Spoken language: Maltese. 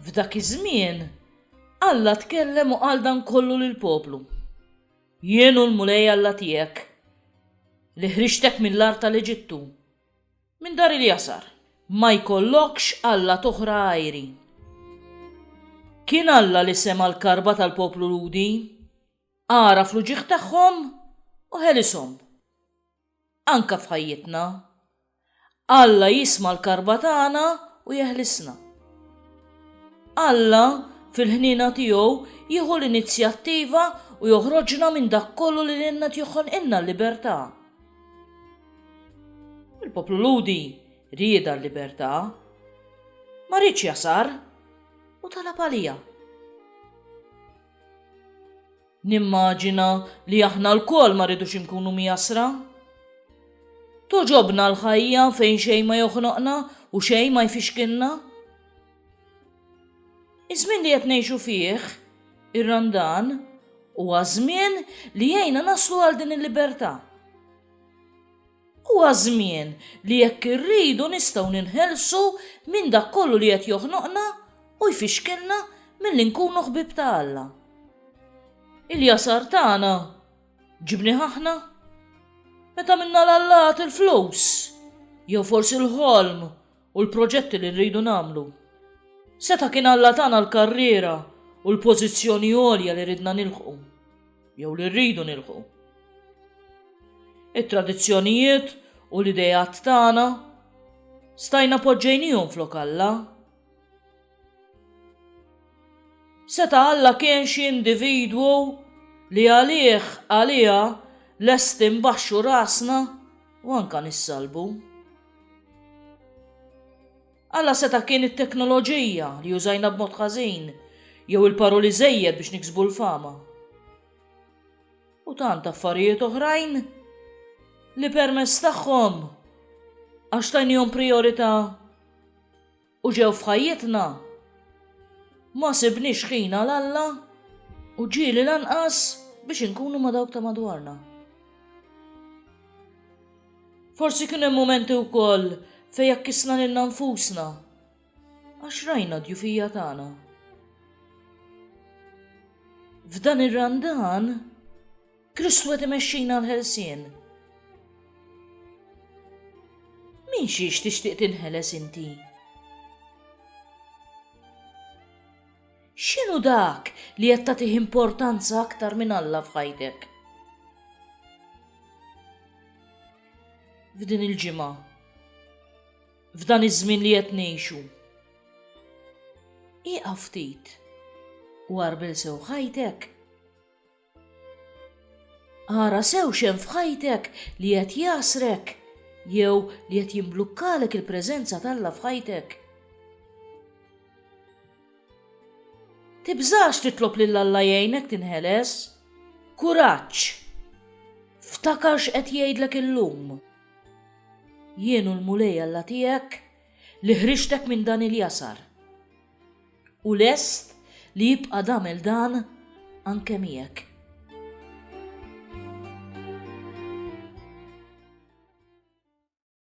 F'dak iż-żmien, Alla tkellem u qal dan kollu lill-poplu. Jien u l-Mulej Alla tiegħek, li ħriġtek mill-art tal-Eġittu, minn dar il-jasar, ma jkollokx Alla toħra għajri. Kien Alla li sema l-karba tal-poplu Ludi, għara fl-uġieħ tagħhom u ħelishom. anke f'ħajjitna. Alla jisma' l-karba tagħna u jeħlisna. Alla fil-ħniena tiegħu jieħu l-inizjattiva u joħroġna minn dak kollu li lilna joħolqilna l-libertà. Il-poplu Ludi rieda l-libertà, ma rridx jasar u talab għalija. Nimmaġina li aħna lkoll ma rridux inkunu mjassra. Togħġobna l-ħajja fejn xejn ma joħnoqna u xejn ma jfixkilna. Iż-żmien li qed ngħixu fih, ir-Randan, huwa żmien li jgħinna naslu għal din il-libertà. Huwa żmien li jekk irridu nistgħu ninħelsu minn dak kollu li qed joħnoqna u jfixkilna milli nkunu ħbib ta' Alla. Il-jasar tagħna ġibni aħna? Meta minna l-allat il-flus, jew forsi l-ħolm u l-proġetti li rridu nagħmlu. Seta' kien Alla tana l-karriera u l-pożizzjoni għolja li ridna nilħqu, jew li rridu nilħqu. It-tradizzjonijiet u l-ideat tagħna stajna poġġejnihom flok Alla. Seta' Alla kien xi individwu li għalih, għaliha, lesti nbaxxu rasna u anke nissalbu. Alla seta' kien it-teknoloġija li użajna b'mod ħażin jew il-paroli żejjed biex niksbu l-fama. U tant affarijiet oħrajn li permess tagħhom għax tajnihom priorità u ġew f'ħajjitna, ma sibniex ħin għal Alla u ġieli lanqas biex inkunu ma dawk ta' madwarna. Forsi kien hemm momenti wkoll fejn jakkisna lilna nfusna għax rajna djufija tagħna. F'dan ir-randan Kristu qed imexxina l-ħelsien. Min xiex tixtieq tinħeles inti? X'inhu dak li qed tagħtih importanza aktar minn Alla f'ħajtek? F'din il-ġimgħa, f'dan iż-żmien li qed ngħixu. Iqa ftit u għarbil sew ħajtek. Ara sew xem f'ħajtek li qed jasrek jew li qed jimblukkalek il-preżenza t'Alla f'ħajtek. Tibżax titlob lil Alla jgħinek tinħeles. Kuraġġ! Ftakar x'qed jgħidlek illum. Jien u l-Mulej Alla tiegħek li ħriġtek minn dan il-jasar. u lest li jibqa' tagħmel dan anke miegħek.